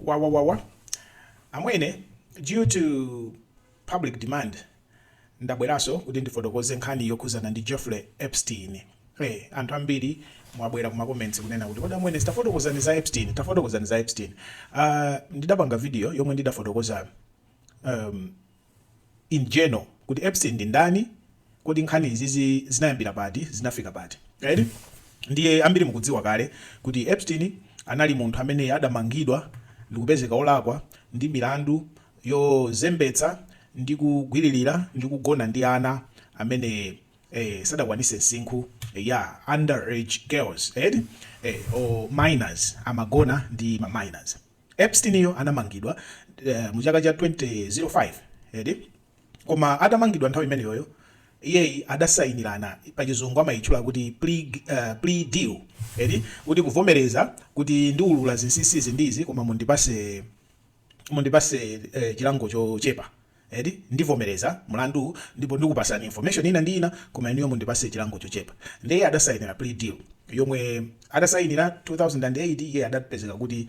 wawawawa amwene due to public demand ndabweraso kuti ndifotokoze nkhani yokhuzana ndi Jeffrey Epstein hey, anthu ambiri mwabwera kuma comments kunena kuti kodi amwene tafotokozani za Epstein tafotokozani za Epstein uh, ndidapanga video yomwe ndidafotokoza um, in general kuti Epstein ndi ndani, kodi nkhani zizi zinayambira pati, zinafika pati. Eti? Ndiye ambiri mukudziwa kale kuti Epstein anali munthu amene adamangidwa ndikupezeka olakwa ndi milandu yozembetsa ndi kugwililira ndi kugona ndi ana amene eh sadakwanise msinkhu eya underage girls eti eh or minors amagona ndi ma minors. Epstein yo anamangidwa mu chaka cha 2005 eti koma atamangidwa nthawi imeneyoyo iyeyi adasayinirana pachizungu amayitchula kuti plea deal eti kuti kuvomereza kuti ndiulula zinsisi izi ndi izi koma mundipase chilango chochepa. Eti? Ndivomereza mlanduwu ndipo ndikupasani information ina ndi ina koma inuyo mundipase chilango chochepa. Nde iye adasainira plea deal yomwe atasainira 2008 iye adapezeka kuti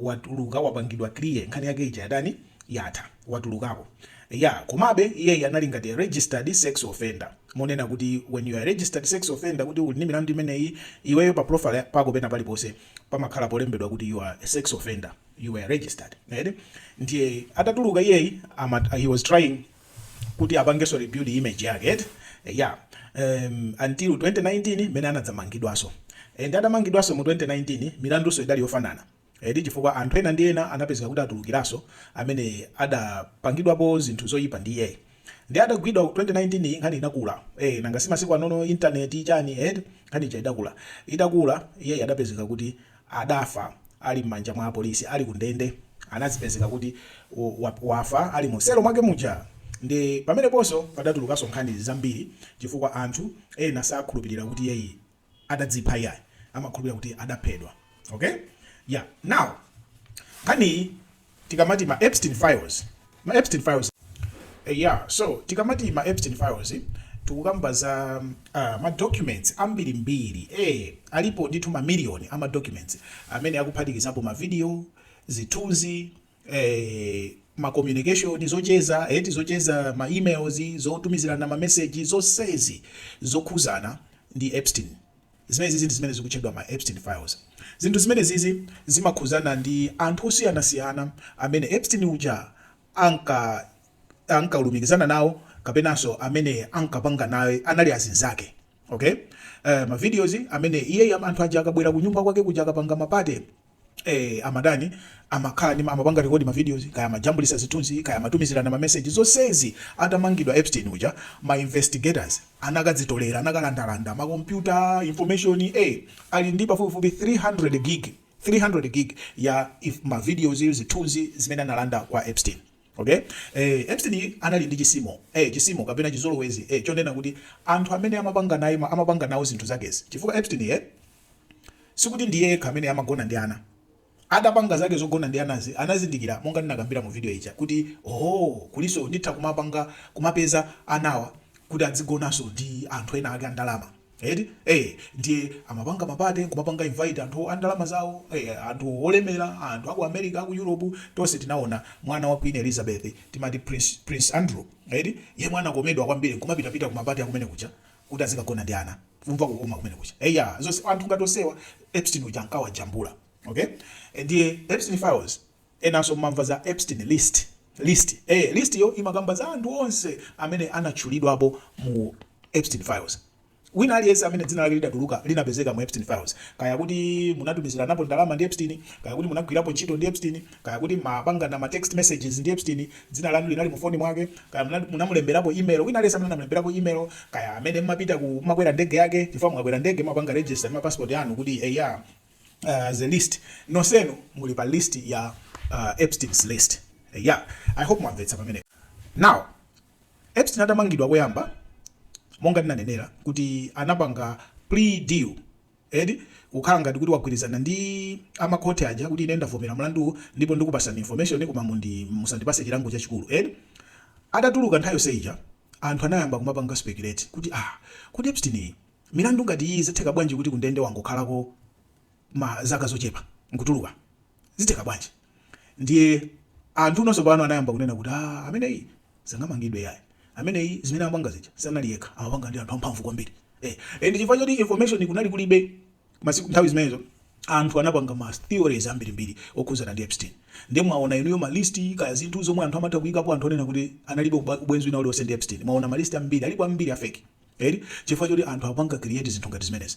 watuluka wapangidwa clear nkhani yake ija yatani yatha watulukako. Iyaa komabe iyeyi anali ngati a registered sex offender monena kuti when you are a registered sex offender kuti uli ndi milandu imeneyi iweyo pa profile pako pena paliponse pamakhala polembedwa kuti you are a sex offender. you were registered eti ndiye atatuluka iyeyi he was trying kuti apangenso rebuild image yake eti yeah um, until 2019 mene anadzamangidwanso and atamangidwanso mu 2019 milandunso idali yofanana eti chifukwa anthu ena ndi ena anapezeka kuti atulukiranso amene adapangidwapo zinthu zoyipa ndi iyeyi nde atagwidwa 2019 nkhani inakula eh nanga si masiku anono internet chani eh nkhani ija idakula itakula iye adapezeka kuti adafa ali m'manja mwa apolisi ali kundende anazipezeka kuti wafa ali mu selo mwake muja nde pameneponso padatulukaso nkhani zambiri chifukwa anthu ena sakhulupilira kuti iyeyi adadzipha iyayi amakhulupilira kuti adaphedwa ok ya now nkhaniyi tikamati ma Epstein Files, ma Epstein Files, eya, so, tikamati ma Epstein Files, tikukamba za, aah, ma documents ambirimbiri, eh, alipo ndithu ma million a ma documents, amene akuphatikizapo ma video, zithunzi, eh, ma communication, zocheza, eti zocheza, ma emails, zotumizirana ma message, zonsezi zokhuzana ndi Epstein. Zimenezizi ndi zimene zikutchedwa ma Epstein Files. Zinthu zimenezizi zimakhuzana ndi anthu osiyanasiyana amene Epstein uja anka ankalumikizana nawo kapenanso amene ankapanga naye anali azinzake. Okay? Eh, ma videos amene iyeyi anthu aja akabwera kunyumba kwake kuja akapanga ma party, eh, amadani amakhala ndi amapanga record ma videos kaya amajambulisa zithunzi kaya amatumizirana ma message zonsezi atamangidwa Epstein uja ma investigators anakadzitolera anakalandalanda ma computer information eh ali ndi pafupifupi 300 gig 300 gig ya ma videos zithunzi zimene analanda kwa Epstein okay eh Epstein anali ndi chizimo eh chisimo kapena chizolowezi eh chonena kuti anthu amene amapanga naye amapanga nawo zinthu zakezi chifukwa Epstein eh Sikuti ndiye yekha amene amagona ndi ana. Adapanga zake zogona ndi anazo anazindikira monga ndinakambira mu video ija kuti hoo kulinso nditha kumapanga kumapeza anawa kuti adzigonanso ndi anthu ena ake andalama eti eh ndiye amapanga mapate kumapanga invite anthu andalama zawo eh, anthu olemera anthu aku America aku Europe tonse tinaona mwana wa Queen Elizabeth timati Prince, Prince Andrew eti yemwe anakomedwa kwambiri kumapitapita kumapate akumene kuja kuti azikagona ndi ana kumva kukoma kumene kuja eyaa zonse anthu ngati onsewa epstein uja ankawajambula okay ndiye epstein files enanso mumamva za epstein list list eh list yo imakamba za anthu onse amene anatchulidwapo mu epstein files wina aliyense amene dzina lake lidatuluka linapezeka mu epstein files kaya kuti munatumiziranapo ndalama ndi epstein kaya kuti munagwirapo ntchito ndi epstein Kaya kuti m'mapangana ma text messages ndi Epstein, dzina lanu linali mu phone mwake, kaya munali, munamulemberapo email, wina aliyense amene anamulemberapo email, kaya amene m'mapita ku, m'makwera ndege yake, chifukwa mukakwera ndege m'mapanga register ma passport anu kuti eya, it's a list, nonsenu muli pa list ya Epstein's list. Eya, I hope mwamvetsa pamenepa. Now, Epstein atamangidwa koyamba, monga ndinanenera kuti anapanga plea deal, Eti? Kukhala ngati kuti wagwirizana ndi a makhoti aja kuti ine ndavomera mlanduwu ndipo ndikupasani information koma mundi musandipase chilango chachikulu eti? Atatuluka nthawi yonse ija anthu anayamba kumapanga speculate kuti aah kodi Epstein milandu ngati iyi zitheka bwanji kuti kundende wangokhalako zaka zochepa nkutuluka? Zitheka bwanji? Ndiye anthu nonse pano anayamba kunena kuti ah ameneyi sangamangidwe yayi. Ameneyi zimene amapanga zija sanali yekha amapanga ndi anthu amphamvu kwambiri. Eh, and chifukwa choti information kunali kulibe masiku nthawi zimenezo anthu anapanga ma theories ambirimbiri okhuzana ndi Epstein. Ndiye mwaona inuyo ma list kaya zinthu zomwe anthu amatha kuyikapo anthu onena kuti analibe uba- ubwenzi wina uliwonse ndi Epstein. Mwaona ma list ambiri alipo ambiri a fake. Eti chifukwa choti anthu akupanga create zinthu ngati zimenezi.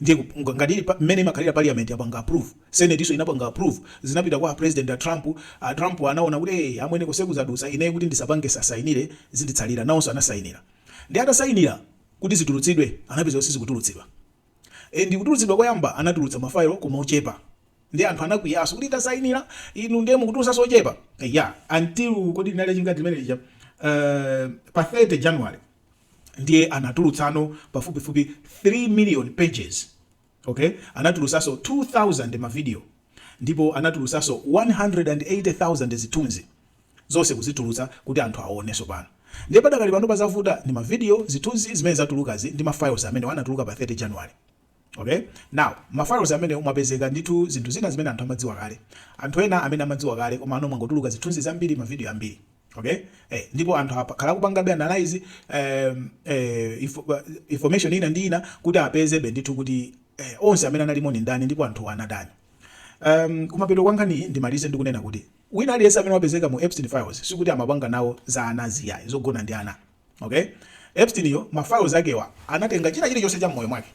Ndiye ngati mmene imakhalira parliament yapanga approve, senate iyonso inapanga approve, zinapita kwa a president a Trump, a Trump anaona kuti ee amwene konseku zadutsa, ineyo kuti ndisapange sasainile zinditsalire, nawonso anasainila. Ndiye atasainila kuti zitulutsidwe, anapeza kuti sizikutulutsidwa. And kutulutsidwa koyamba anatulutsa ma file koma ochepa. Ndiye anthu anakwiyaso kuti tasainila inu ndiye mukutulutsaso ochepa. Eya, until kodi linali lachingati limene lija, eeh pa 30 January. ndiye anatulutsanso pafupifupi 3 million pages ok anatulutsanso 2000 ma video ndipo anatulutsanso 180,000 zithunzi zonse kuzitulutsa kuti anthu awonenso pano ndiye padakali pano pazavuta ndi ma video zithunzi zimene zatulukazi ndi ma files amenewa anatuluka pa 30 January Okay? Now, ma files amenewo mwapezeka ndithu zinthu zina zimene anthu amadziwa kale. Anthu ena amene amadziwa kale komano mwangotuluka zithunzi zambiri, ma video ambiri. Okay? Eh, ndipo anthu akhala kupangabe analyze um, eh, info, uh, information ina ndi ina kuti apezebe ndithu kuti eh, onse amene analimo ndi ndani ndipo anthu anadani. Um, kumapeto kwa nkhani ndimalize ndikunena kuti wina aliyense amene wapezeka mu Epstein files sikuti amapanga nawo za anazi yayi zogona ndi ana. Okay? Epsteinyo, ma files akewa, anatenga china chili chonse cha moyo wake.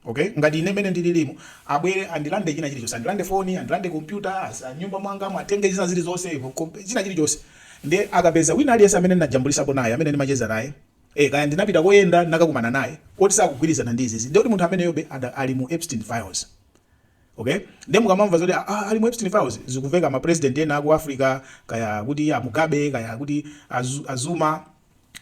Okay? Ngati ine mene ndililimu, abwere andilande china chili chonse. Andilande phone, andilande computer, mnyumba mwangamu atenge zina zili zonse, china chili chonse. Nde akapeza wina aliyense amene ndinajambulitsapo naye, amene ndimacheza naye. Eh, kaya ndinapita koyenda nakakumana naye. Koti sakugwirizana ndi izizi. Ndiye kuti munthu ameneyobe ali mu Epstein files. Okay? Ndiye mukamamva zoti ah, ah, ali mu Epstein Files zikuveka ma president ena aku Africa kaya kuti a Mugabe kaya kuti a Zuma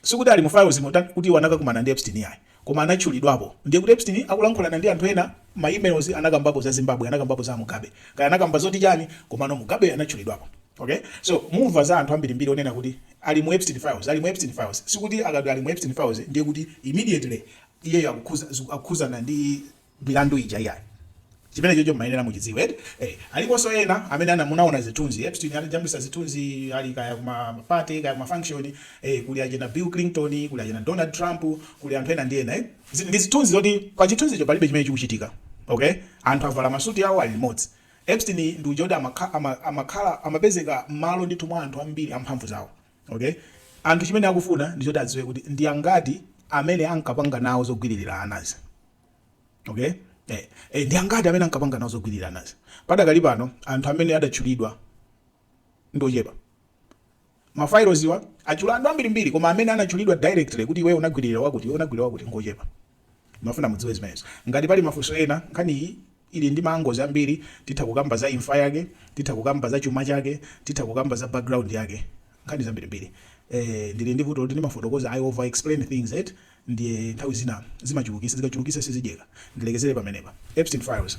sikuti ali mu filesmu kuti anakakumana ndi Epstein yayi koma anatchulidwapo ndiye kuti Epstein akulankhulana ndi anthu ena ma emails anakambapo za Zimbabwe anakambapo za Mugabe kaya anakamba zoti chani komano Mugabe anatchulidwapo okay so mumva za anthu ambirimbiri onena kuti ali mu Epstein files ali mu Epstein files sikuti akati ali mu Epstein files ndiye kuti immediately iyeyo akukhuza akukhuzana ndi milandu ija iyayi chimenechocho mumayenera muchidziwe eti eh aliponso ena amene ana munaona zithunzi Epstein anajambulitsa zithunzi ali kaya kuma party kaya kuma function eh kuli achina Bill Clinton kuli achina Donald Trump kuli anthu ena ndi ena eh Zi- ndi zithunzi zoti pa chithunzicho palibe chimene chikuchitika okay anthu avala masuti awo ali limodzi Epstein ndi uja kuti amakha- ama- amakhala amapezeka mmalo ndithu mwa anthu ambiri amphamvu zawo okay anthu chimene akufuna ndi choti adziwe kuti ndi angati amene ankapanga nawo zogwiririra anazi Okay? Eh, eh, ndi angati amene ankapanga nawo zogwirira anazi? Padakali pano anthu amene adatchulidwa ndi ochepa. Ma fileswa atchula anthu ambirimbiri koma amene anatchulidwa directly kuti iwe unagwiririra wakuti iwe unagwiririra wakuti ngochepa. Ndimafuna mudziwe zimenezo. Ngati pali mafunso ena nkhani iyi Ili ndi ma angles ambiri, titha kukamba za imfa yake, titha kukamba za chuma chake, titha kukamba za background yake, nkhani zambirimbiri. Eh, ndili ndi vuto loti ndimafotokoza, I overexplain things eti, ndiye nthawi zina ndimachulukitsa, zikachulukitsa sizidyeka. Ndilekezere pamenepa. Epstein Files.